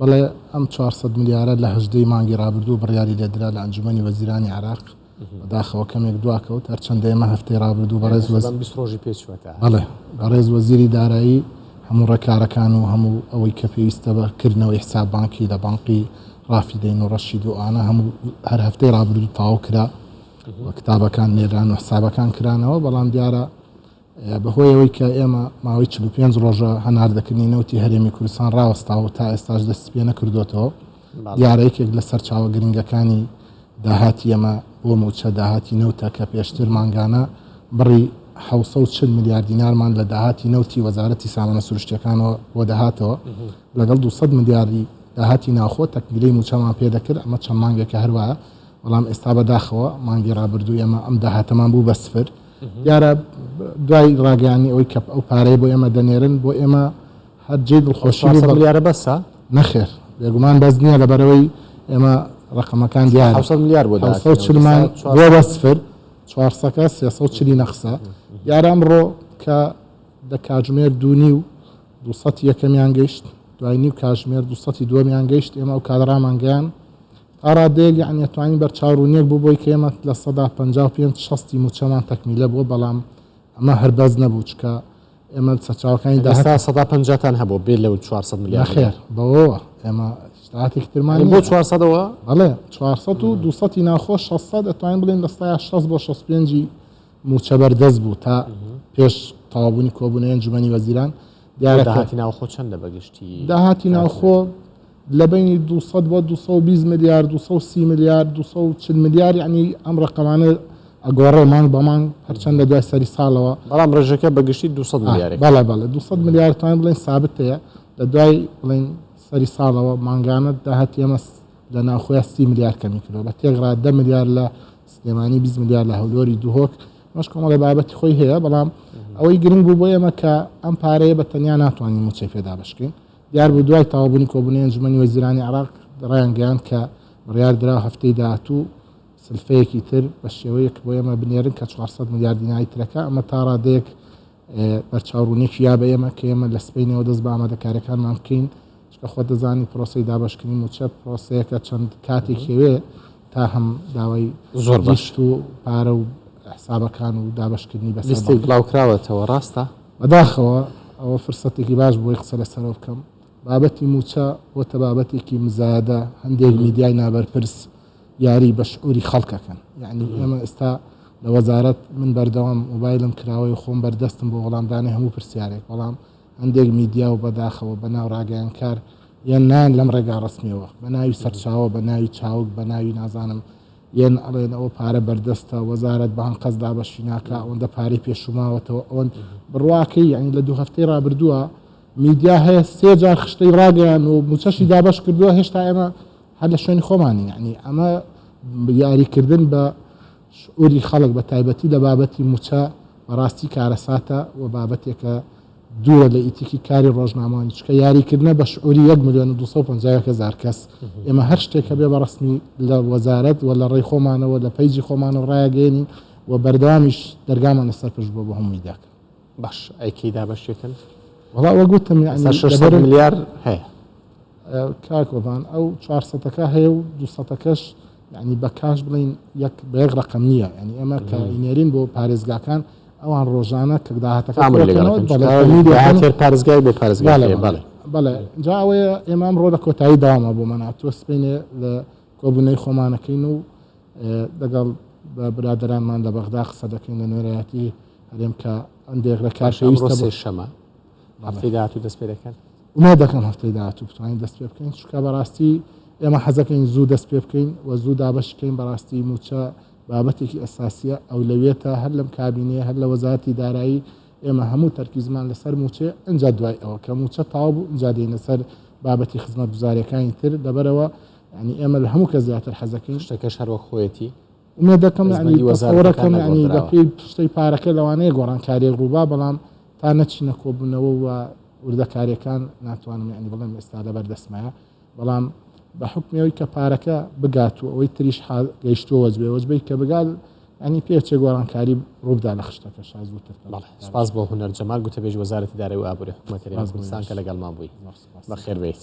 بەڵێ ئەم چوار سەد ملیارە لە هەژدە ی مانگی رابردوو بڕیاری لێدرا لە ئەنجومەنی وەزیرانی عێراق، بەداخەوە کەمێک دواکەوت، هەرچەندە ئێمە هەفتەی رابردوو بەڕێز وەزیری بەڕێز وەزیری دارایی هەموو رێکارەکان و هەموو ئەوەی کە پێویستە بە کردنەوەی حساب بانکی لە بانقی رافیدەین و رەشید و ئەوانە هەموو هەر هەفتەی رابردوو تەواو کرا و کتابەکان نێران و حسابەکان کرانەوە، بەڵام دیارە بەهۆی ئەوەی کە ئێمە ماوەی چل و پێنج ڕۆژە هەناردەکردنی نەوتی هەرێمی کوردستان ڕاوەستاوە و تا ئێستاش دەستی پێ نەکردووەتەوە، دیارە یەکێک لە سەرچاوە گرنگەکانی داهاتی ئێمە بۆ مووچە داهاتی نەوتە کە پێشتر مانگانە بڕی حەوت سەد و چل ملیار دینارمان لە داهاتی نەوتی وەزارەتی سامانە سروشتییەکانەوە بۆ دەهاتەوە، لەگەڵ دوو سەد ملیاری داهاتی ناوخۆ تەکبیرەی مووچەمان پێ دەکرد، ئەمە چەند مانگێکە هەروایە، بەڵام ئێستا بەداخەوە مانگی ڕابردوو ئێمە ئەم داهاتەمان بوو بە سفر. دیارە دوای ڕاگەیانی ئەوەی کە ئەو پارەیە بۆ ئێمە دەنێرن بۆ ئێمە هەر جێی دڵخۆشی سەد ملیارە بەسە نەخێر بێگومان بەس نییە لەبەرەوەی ئێمە ڕقمەکان دیار 400 ملیار بۆ دا 400 چلمان بۆ بەسفر چوارسەکە سێسە و چلی نەخسە دیارە ئەمڕۆ کە دە کاژمێر دوونی و دوسەتی یەکەمیان گەیشت دوای نیو کاژمێر دوسەتی دووەمیان گەیشت ئێمە ئەو کادڕامانگەیان تا ڕادەیەک یەعنی ئەتوانین بەرچاوڕوونیەک بۆ بۆی کەێمە لە سەدا پەنجا و پێنج شەستی مووچەمان تەکمیلە بووە بەڵام ئەمە هەر بەس نەبوو چکە ئێمە سەرچاوەکانی داستا سەدا پەنجاتان هەبوو بێ لەو 400 ملیار خێر بەوەوە ئێمە شتاتێک ترمان بۆ 400ەوە بەڵێ 400 و 200 ناخۆ 600 ئەتوانین بڵێن لە 16 بۆ 65 موچە بەردەست بوو تا پێش تاوابوونی کۆبوونە ئەنجومەنی وەزیران دیارەتی ناوخۆ چەندە بەگشتی داهاتی ناوخۆ لە بەینی دوو سەد بۆ دوو سەد و بیست ملیار، دوو سەد و سی ملیار، دوو سەد و چل ملیار یەعنی ئەم ڕەقەمانە ئەگۆڕێ مانگ بە مانگ هەرچەند لە دوای سەری ساڵەوە. بەڵام ڕێژەکە بە گشتی دوو سەد ملیارێک. بەڵێ بەڵێ دوو سەد ملیار توانین بڵێین سابت هەیە لە دوای بڵێین سەری ساڵەوە مانگانە داهاتی ئێمە لە ناوخۆیان سی ملیار کەمی کردەوە بە تێکڕا دە ملیار لە سلێمانی بیست ملیار لە هەولۆری دهۆک مەش کۆمەڵێ بابەتی خۆی هەیە بەڵام ئەوەی گرنگ بوو بۆ ئێمە کە ئەم پارەیە بە تەنیا ناتوانین موچەی پێدا بشکین دیار بوو دوای تەواوبوونی کۆبوونەوەی ئەنجوومەنی وەزیرانی عێراق رایانگەیاند کە بڕیاردراوە هەفتەی داهاتوو سلفەیەکی تر بە شێوەیەک بۆ ئێمە بنێرن کە چوار سەد ملیار دیناری ترەکە ئەمە تا رادەیەک بەرچاوڕوونیەکی یا بە ئێمە کە ئێمە لە سپینەوە دەست بە ئامادەکاریەکانمان بکەین چکە خۆ دەزانی پرۆسی دابشکردنی موچە پرۆسەیەکە چەند کاتێک هەوێ تا هەم داوای زۆر بەشت و پارە و حسابەکان و دابشکردنی بەستی بڵاوکراوەتەوە ڕاستە بەداخەوە ئەوە فرسەتێکی باش بووی قسە لەسەرەوە بکەم. بابەتی مووچە بۆتە بابەتێکی مزایەدە، هەندێک میدیای نابەرپرس یاری بە شعوری خەڵکەکەن. یەعنی ئێمە ئێستا لە وەزارەت من بەردەوام مۆبایلم کراوەی و خۆم بەردەستم بۆ وەڵامدانی هەموو پرسیارێک، بەڵام هەندێک میدیا و بەداخەوە بە ناو راگەیەنکار یان نایەن لەم رێگا رەسمیەوە بە ناوی سەرچاوە بە ناوی چاوگ بە ناوی نازانم یەن ئەڵێن ئەوە پارە بەردەستە وەزارەت بە ئەنقەست دابەشی ناکا ئەوەندە پارەی پێشوماوەتەوە ئەوەند بڕواکەی یعنی لە دوو هەفتەی ڕابردووە میدیا هەیە سێ جار خشتەی ڕاگەیان و موچەشی دابەش کردووە هێشتا ئێمە هەر لە شوێنی خۆمانی یعنی ئەمە یاریکردن بە شعوری خەڵک بە تایبەتی لە بابەتی موچە بەڕاستی کارەساتە و بابەتێکە دوورە لە ئیتیکی کاری ڕۆژنامەوانی چکە یاریکردنە بە شعوری 1 ملیۆن و 250 هزار کەس ئێمە هەر شتێک هەبێ بە ڕسمی لە وەزارەت و لە ڕێی خۆمانەوە لە پەیجی خۆمانەوە ڕایەگەێنین و بەردەوامیش دەرگامانە سەرپش بۆ بە هەمووی داکە باش ئەیکی دابەشێکن وڵا وەگوتم ملیار هەیە کاکۆبان ئەو چوارسەتەکە هەیە و دوسەتەکەش یانی بە کاش بڵین یەک بە یەک ڕقم نییە ینی ئێمە کە ئینێرین بۆ پارێزگاکان ئەوان ڕۆژانە کە داهاتەکە پارێزگای بۆ پارێزگا بەڵێ جا ئەوەیە ئێمە ئەم ڕۆدە کۆتایی داوامە بۆ مەنا تۆ سپینێ لە کۆبوونەی خۆمانەکەین و دەگەڵ بە برادرانمان لە بەغدا قسە دەکەین لە نوێرایەتی هەرێم کە ئەم دێغرە کارشەویستە شەمە هەفتەی داهاتوو دەست پێ دەکەن ئومێد دەکەم هەفتەی داهاتوو بتوانین دەست پێ بکەین چونکە بەڕاستی ئێمە حەزەکەین زوو دەست پێ بکەین و زوو دابەش بکەین بەڕاستی موچە بابەتێکی ئەساسیە ئەو لەوێتە هەر لەم کابینەیە هەر لە وەزارەتی دارایی ئێمە هەموو تەرکیزمان لەسەر موچێ ئەجا دوای ئەوە کە موچە تاو بوو ئجا دێنە سەر بابەتی خزمەت گوزارەکانی تر دەبەرەوە ینی ئێمە لە هەموو کە زیاتر حەزەکەین شتەکەش هەروەک خۆیەتی ئومێدەکەم یعنی وەزارەکەم یعنی بەپێی پشتەی پارەکە لەوانەیە گۆڕانکاریێک ڕووبا بەڵام تا نەچینە کۆبوونەوە و وردەکاریەکان ناتوانم یعنی بڵێم ئێستا لەبەر دەسمایە بەڵام بە حکمەوەی کە پارەکە بگات و ئەوەی تریش گەیشتووە وەزبێ وەزبەی کە بگات ئەنی پێچێ گۆڕانکاری ڕوودا لە خشتەکە شاز بوو سپاس بۆ هوەر جەمال گوتە بێژ وەزارەتی دارەوە ئابووری حکوومەتەرێستان کە لەگەڵمان بووی بەخێر بیت.